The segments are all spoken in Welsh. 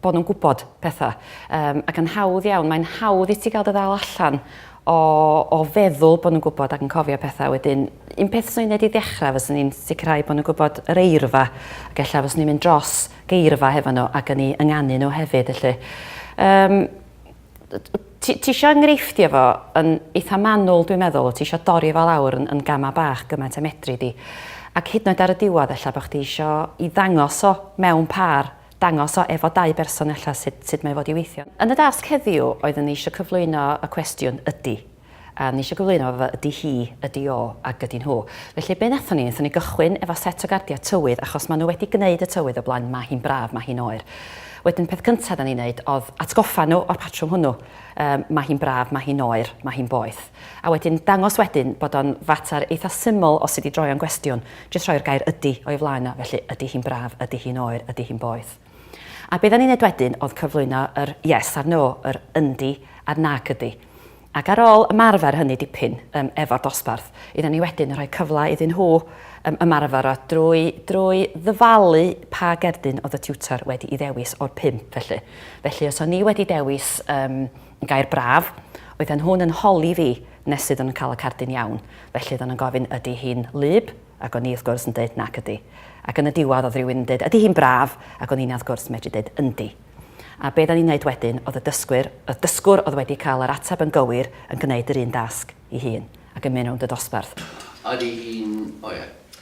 bod nhw'n gwybod pethau. Um, ac yn hawdd iawn, mae'n hawdd i ti gael dy ddal allan o, o feddwl bod nhw'n gwybod ac yn cofio pethau wedyn. Un peth sy'n ei i ddechrau fes ni'n sicrhau bod nhw'n gwybod yr eirfa ac efallai fes ni'n mynd dros geirfa hefo nhw ac yn ei ynganu nhw hefyd. Felly. Um, ti, ti eisiau enghreifftio efo yn eitha manwl, dwi'n meddwl, ti eisiau dorri fel awr yn, yn gamau bach gymaint a medru di. Ac hyd yn oed ar y diwedd, efallai bod chdi eisiau i ddangos o mewn par dangos o efo dau berson ella sut sut mae fod i weithio. Yn y dasg heddiw oeddwn i isio cyflwyno y cwestiwn ydy. A o'n i isio gyflwyno fo fel ydy hi, ydy o, ac ydy nhw. Felly be nathon ni, nathon ni gychwyn efo set o gardia tywydd achos ma' nhw wedi gneud y tywydd o blaen, ma' hi'n braf, ma' hi'n oer. Wedyn peth cynta da ni'n neud odd atgoffa nhw o'r patrwm hwnnw. Yym ma' hi'n braf, ma' hi'n oer, ma' hi'n boeth. A wedyn dangos wedyn bod o'n fatar eitha syml os ti di droi o'n gwestiwn. Jyst rhoi'r gair 'ydy' o'i flaen o, felly, ydy hi'n braf, ydy hi'n oer, ydy hi'n boeth. A be oeddan ni'n neud wedyn oedd cyflwyno yr 'yes' a'r 'no', yr 'yndi' a'r 'nac ydy'. Ac ar ôl ymarfer hynny dipyn yym efo'r dosbarth, oeddan ni wedyn yn rhoi cyfle iddyn nhw yym ymarfer o drwy drwy ddyfalu pa gerdyn oedd y tiwtor wedi'i ddewis o'r pump, felly. Felly, os o'n i wedi dewis yym Gair braf. Oedden nhw'n yn holi fi nes iddyn nhw cael y cardyn iawn. Felly oedden nhw'n gofyn ydy hi'n wlyb? ac o'n i wrth gwrs yn deud nac ydy. Ac yn y diwedd oedd rhywun yn deud ydy hi'n braf? ac o'n i'n wrth gwrs medru deud yndi. A be oedden ni'n neud wedyn oedd y dysgwyr, y dysgwr oedd wedi cael yr ateb yn gywir yn gwneud yr un dasg i hun ac yn mynd rownd y dosbarth. Ydy hi'n, o ie.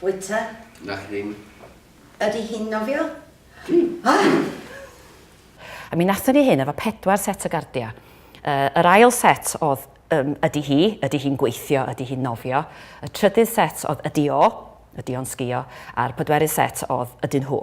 Bwyta. Nac ddim. Ydy hi'n nofio? A mi nathon ni hyn efo pedwar set o gardia. Yy, yr ail set o'dd, yym, ydy hi, ydy hi'n gweithio, ydy hi'n nofio. Y trydydd set o'dd ydy o, ydy o'n sgïo, a'r pedwerydd set o'dd ydyn nhw.